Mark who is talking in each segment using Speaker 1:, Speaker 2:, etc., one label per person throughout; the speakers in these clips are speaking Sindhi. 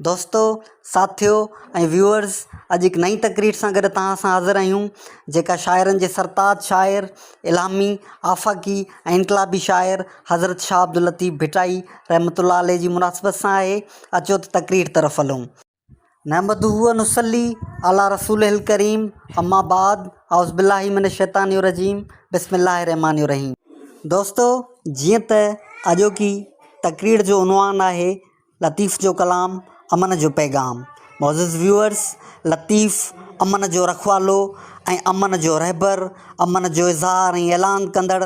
Speaker 1: دوستو ساٿيو ۽ ويوئرز اڄ هڪ نئي تقرير سان گڏ توهان سان حاضر آهيون جيڪا شاعرن جي سرتاج شاعر الهامي آفاقي ۽ انقلابي شاعر حضرت شاهه عبداللطيف ڀٽائي رحمة الله عليه جي مناسبت سان آهي اچو ته تقرير طرف هلون. نحمده و نصلي علي رسوله الڪريم اما بعد اعوذ بالله من الشيطان الرجيم بسم الله الرحمٰن الرحيم دوستو جيئن ته اڄوڪي تقرير جو عنوان آهي لطيف جو ڪلام امن جو پيغام معزز ويوئرس لطيف امن جو رکوالو ۽ امن جو رهبر امن جو اظهار ۽ اعلان ڪندڙ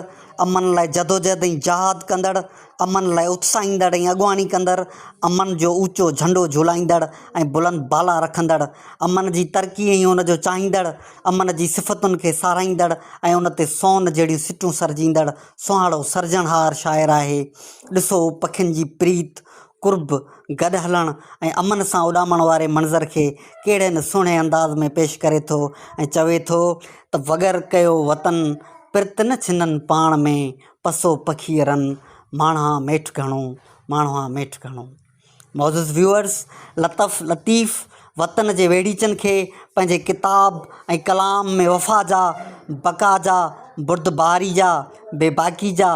Speaker 1: امن لاء جدوجهد ۽ جهاد ڪندڙ امن لاء اتساهيندڙ ۽ اڳواڻي ڪندڙ امن جو اوچو جهنڊو جهولائيندڙ ۽ بلند بالا رکندڙ امن جي ترقي ۽ ان جو چاهيندڙ امن جي صفتن کي ساراهيندڙ ۽ ان تي سون جهڙيون سٽون سرجيندڙ سهڻو سرجڻهار شاعر آهي. ڏسو پکين جي پريت، قرب، گڏ هلڻ ۽ امن سان اڏامڻ واري منظر کي ڪهڙي نه سهڻي انداز ۾ پيش ڪري ٿو ۽ چوي ٿو ته وڳر ڪيو وطن، پرت نه ڇنن پاڻ ۾، پسو پکيء رن، ماڻهان ميٺ گهڻو، ماڻهان ميٺ گهڻو. معزز ويوئرز لطف لطيف وطن جي ويڙهيچن کي پنهنجي ڪتاب ۽ ڪلام ۾ وفا جا بقا جا بردباري جا بي باڪي جا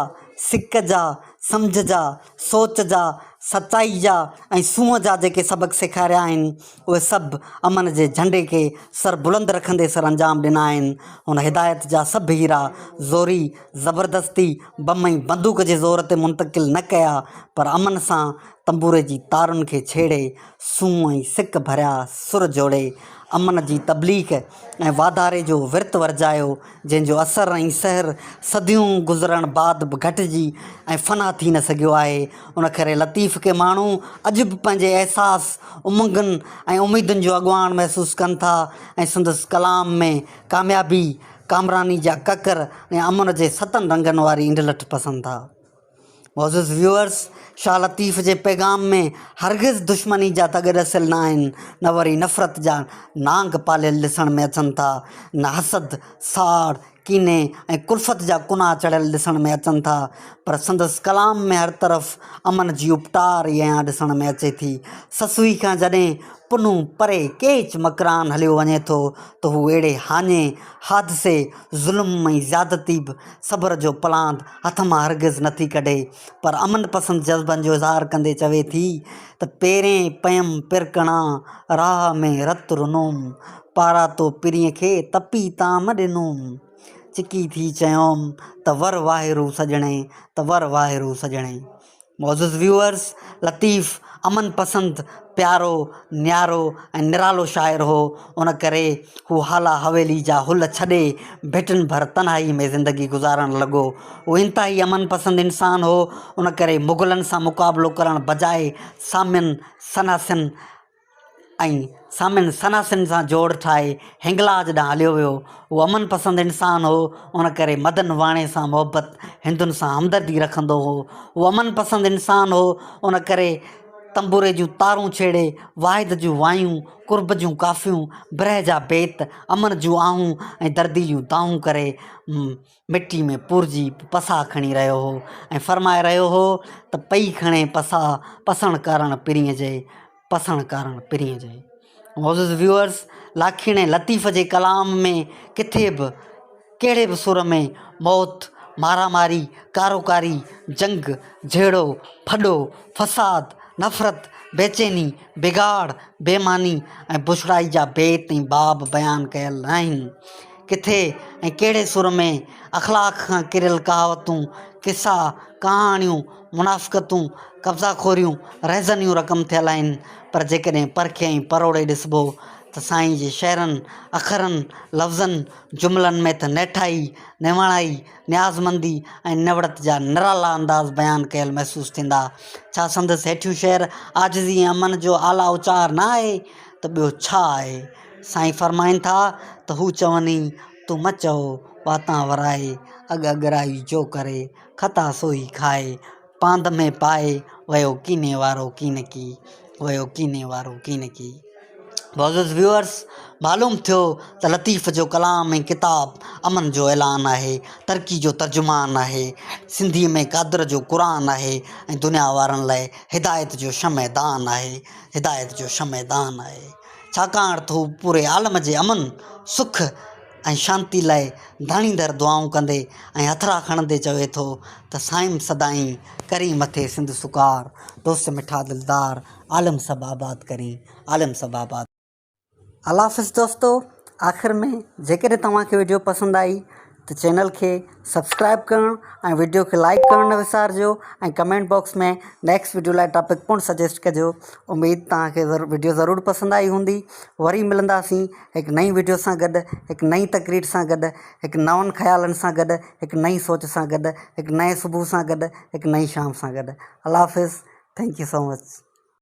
Speaker 1: سڪ جا سمجهه جا سوچ جا سچائي جا ۽ سونهن جا جيڪي سبق سيکاريا آهن اهي سڀ امن جي جهنڊي کي سر بلند رکندي سرانجام ڏنا آهن هن هدايت جا سڀ هيرا زوري زبردستي بم ۽ بندوق جي زور تي منتقل نه ڪيا پر امن سان تنبوري جي تارن کي ڇيڙي سونهن ۽ سڪ ڀريا سر جوڙي امن جي تبليغ ۽ واڌاري جو ورت ورجايو جنهن جو اثر ۽ سحر صديون گذرڻ بعد به گهٽجي ۽ فنا ٿي نه سگهيو آهي ان ڪري لطيف کي ماڻهو اڄ به پنهنجي احساس امنگن ۽ اميدن جو اڳواڻ محسوس ڪن ٿا ۽ سندس ڪلام ۾ ڪاميابي ڪامراني جا ڪڪر ۽ امن جي ستن رنگن واري انڊلٺ پسند ٿا. معزز ويوئرز شاھ لطيف جي پيغام ۾ ھرگز دشمني جا تڳ ڏسيل نه آھن نه وري نفرت جا نانگ پاليل ڏسڻ ۾ اچن ٿا نه حسد، ساڙ، ڪيني ۽ ڪلفت جا ڪناھ چڙھيل ڏسڻ ۾ اچن ٿا پر سندس ڪلام ۾ ھر طرف امن جي اپٽار ئي ايان ڏسڻ ۾ اچي ٿي سسوي کان جڏھن پنھون پري ڪيچ مڪران ھليو وڃي ٿو ته هو اهڙي هاڃي، حادثي، ظلم ۽ زيادتي به صبر جو پلاند هٿ مان هرگز نه ٿي ڪڍي پر امن پسند جذبن جو اظهار ڪندي چوي ٿي ته پيرين پيم پرڪڻا راهه ۾ رت رنوم، پاراتو پرين کي تپي تام ڏنوم، چڪي ٿي چيوم ته ور واهرو سڄڻي، ته ور واهرو سڄڻي. معزز ويوئرز لطيف امن پسند پيارو نيارو ۽ نرالو شاعر هو ان ڪري هو هالا حويلي جا هل ڇڏي ڀٽن ڀر تنهائي ۾ زندگي گذارڻ لڳو هو انتهائي امن پسند انسان هو ان ڪري مغلن سان مقابلو ڪرڻ بجاء سامين سناسين ۽ سامين سناسين سان جوڙ ٺاهي هنگلاج ڏانهن هليو ويو. هو امن پسند انسان هو، ان ڪري مدن واڻي سان محبت، هندن سان همدردي رکندو هو. هو امن پسند انسان هو، ان ڪري تنبوري جون تارون ڇيڙي، واحد جون وايون، قرب جون ڪافيون، برهه جا بيت، امن جون آهون ۽ درديليون دانهون ڪري، مٽي ۾ پورجي پساهه کڻي رهيو هو ۽ فرمائي رهيو هو ته پئي کڻي پساهه پسڻ ڪارڻ پرينء جي پسڻ ڪارڻ پرينء جي معزز ويورز لاکيڻي لطيف جي ڪلام ۾ ڪٿي به ڪهڙي به سر ۾ موت مارا ماري ڪارو ڪاري جنگ جهيڙو ڦڏو فساد نفرت بيچيني بگاڙ بيماني ۽ بڇڙائي جا بيت ۽ باب بيان ڪيل ناهن ڪٿي ۽ ڪهڙي سر ۾، اخلاق کان ڪريل ڪهاوتون، قصا، ڪهاڻيون، منافقتون، قبضا خوريون، رهزنيون رقم ٿيل آهن، پر جيڪڏهن پرکي ۽ پروڙي ڏسبو ته سائين جي شعرن، اکرن، لفظن، جملن ۾ ته نيٺائي، نواڻائي، نيازمندي ۽ نوڙت جا نرالا انداز بيان ڪيل محسوس ٿيندا. ڇا سندس هيٺيون شعر عاجزي ۽ امن جو اعليٰ اچار نه آهي ته ٻيو ڇا آهي؟ سائين فرمائن ٿا ته هو چوني، تون مه چئو، واتان ورائي، اڳ اڳرائي جو ڪري، خطا سوئي کائي، پاند ۾ پائي، ويو ڪيني وارو ڪينڪي، ويو ڪيني وارو ڪينڪي. معزز ويورز معلوم ٿيو ته لطيف جو ڪلام ۽ ڪتاب امن جو اعلان آهي، ترقي جو ترجمان آهي، سنڌيء ۾ قادر جو قرآن آهي ۽ دنيا وارن لاء هدايت جو شمع دان آهي، هدايت جو شمع دان آهي. ڇاڪاڻ ته هو پوري عالم جي امن، سک ۽ شانتي لاء ڌاڻيندڙ دعائون ڪندي ۽ هٿڙا کڻندي چوي ٿو ته سائين سدائين ڪرين مٿي سنڌ سڪار، دوست مٺا دلدار، عالم سڀ آباد ڪرين، عالم سڀ آباد. الله حافظ دوستو آخر ۾ جيڪڏهن توهان کي وڊيو پسند آئي ته چينل کي سبسڪرائب ڪرڻ ۽ وڊيو کي لائڪ ڪرڻ نه وسارجو ۽ ڪمينٽ باڪس ۾ نيڪسٽ وڊيو لاء ٽاپڪ پڻ سجيسٽ ڪجو اميد توهان کي وڊيو ضرور پسند آئي هوندي وري ملنداسين هڪ نئين وڊيو سان گڏ هڪ نئين تقرير سان گڏ هڪ نون خيالن سان گڏ هڪ نئين سوچ سان گڏ هڪ نئين صبح سان گڏ هڪ نئين شام سان گڏ الله حافظ ٿينڪ يو سو مچ